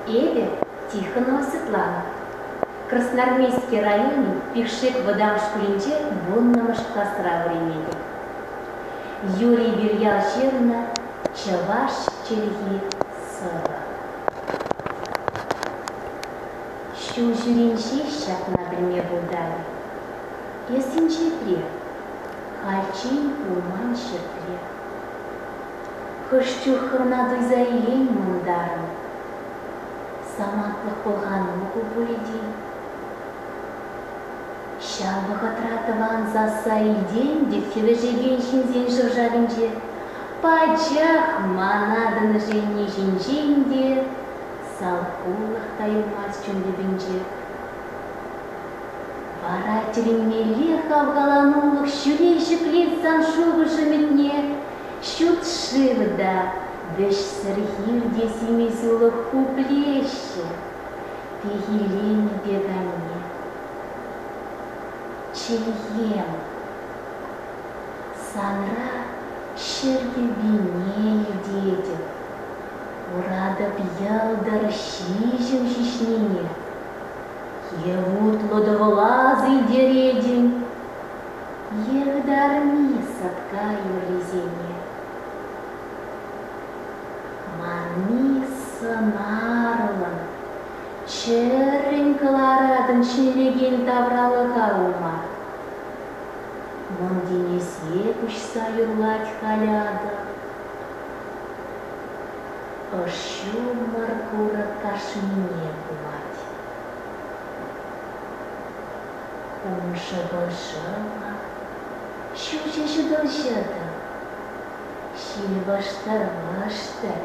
Эпӗ Тихонова Светлана, Красноармейски районӗн Пишек вӑтам шкулӗнче вуннӑмӗш класра вӗренетӗп. Юрий Вирьялҫевна, чӑваш чӗлхи сӑвӑ. Ҫул ҫӳренҫи ҫакна пӗлме пултарӗ. Эс инҫетре, хальччен пулман ҫӗртре. Хӑш чух хӑвна туйса илеймӗн унтарӑн. Самантлӑх пӑлханнӑ ку пурити. Ҫав вӑхӑтра тӑван сасса илтен пек хӗвӗшекен ҫынсен шӑв-шавӗнче пачах ман атӑнӑшенни ҫинчен те салхулӑх та юлмасть чун тӗпӗнче. Вара тӗлӗнмелле хавхаланулӑх ҫӳле ҫӗклет сан шухӑш ӗмӗтне Ҫут шыв та, вӗҫсӗр хир те симӗс-улӑх пуплеҫҫӗ. Пехеленӗ пек анне. Чӗлхем, санра ҫӗр кӗввине илтетӗп. Куратӑп йӑлтӑр ҫиҫӗм ҫиҫнине. Е вутлӑ тӑвӑла силтеретӗн, Йӗрытарми сӑтка юррисене. Манми сӑнарлӑн, чӗрӗн кӑларатӑн ҫӗнлекен тавралӑха ума. Мӑн тинӗсе куҫса юрлать халӗ атӑ. Ӑш ҫумӑр курӑк кашнине хумать. Пӑрҫӑ-пӑрҫӑ-ха, ҫутҫӑ-ҫутӑрҫӑ-тӑ. Ҫилпӑштӑр-мӑштӑр,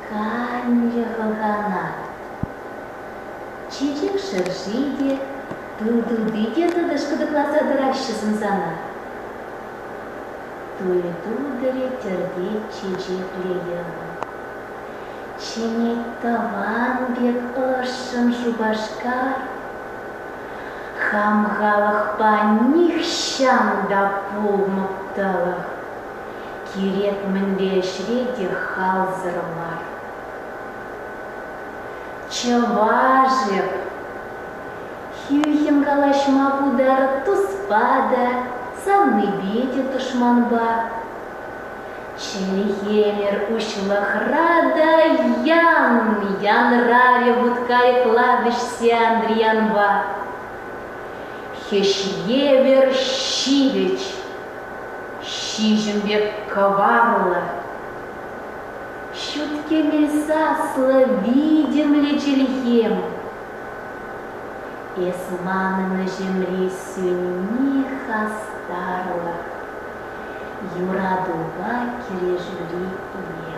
канлӗ хӑхана. Чечек шӑрши те, ту тути те тӑтӑш-кӑтӑкласа тӑраҫҫӗ сӑмсана. Туй-тутӑрӗ тӗртет чечеклӗ йӑвӑ. Чӗнет тӑван пек ӑшшӑн Шупашкар. Хам халӑхпа нихҫан та пулмӑптӑлӑх, кирек мӗнле ӗҫре те халсӑр мар. Чӑваш эп, хӳхӗм калаҫма пултар туспа та, савнипе те тӑшманпа. Ҫӗнӗ ӗмӗр уҫлӑхра та ян янрарӗ вут-кайӑкла вӗҫсе Андриянпа. Хӗҫ евӗр ҫивӗч, ҫиҫӗм пек кӑварлӑ. Ҫут кӗмӗл саслӑ витӗмлӗ чӗлхем. Эс манӑн ӗҫӗмри сӳнни хастарлӑх. Юратупа килӗшӳли пурне.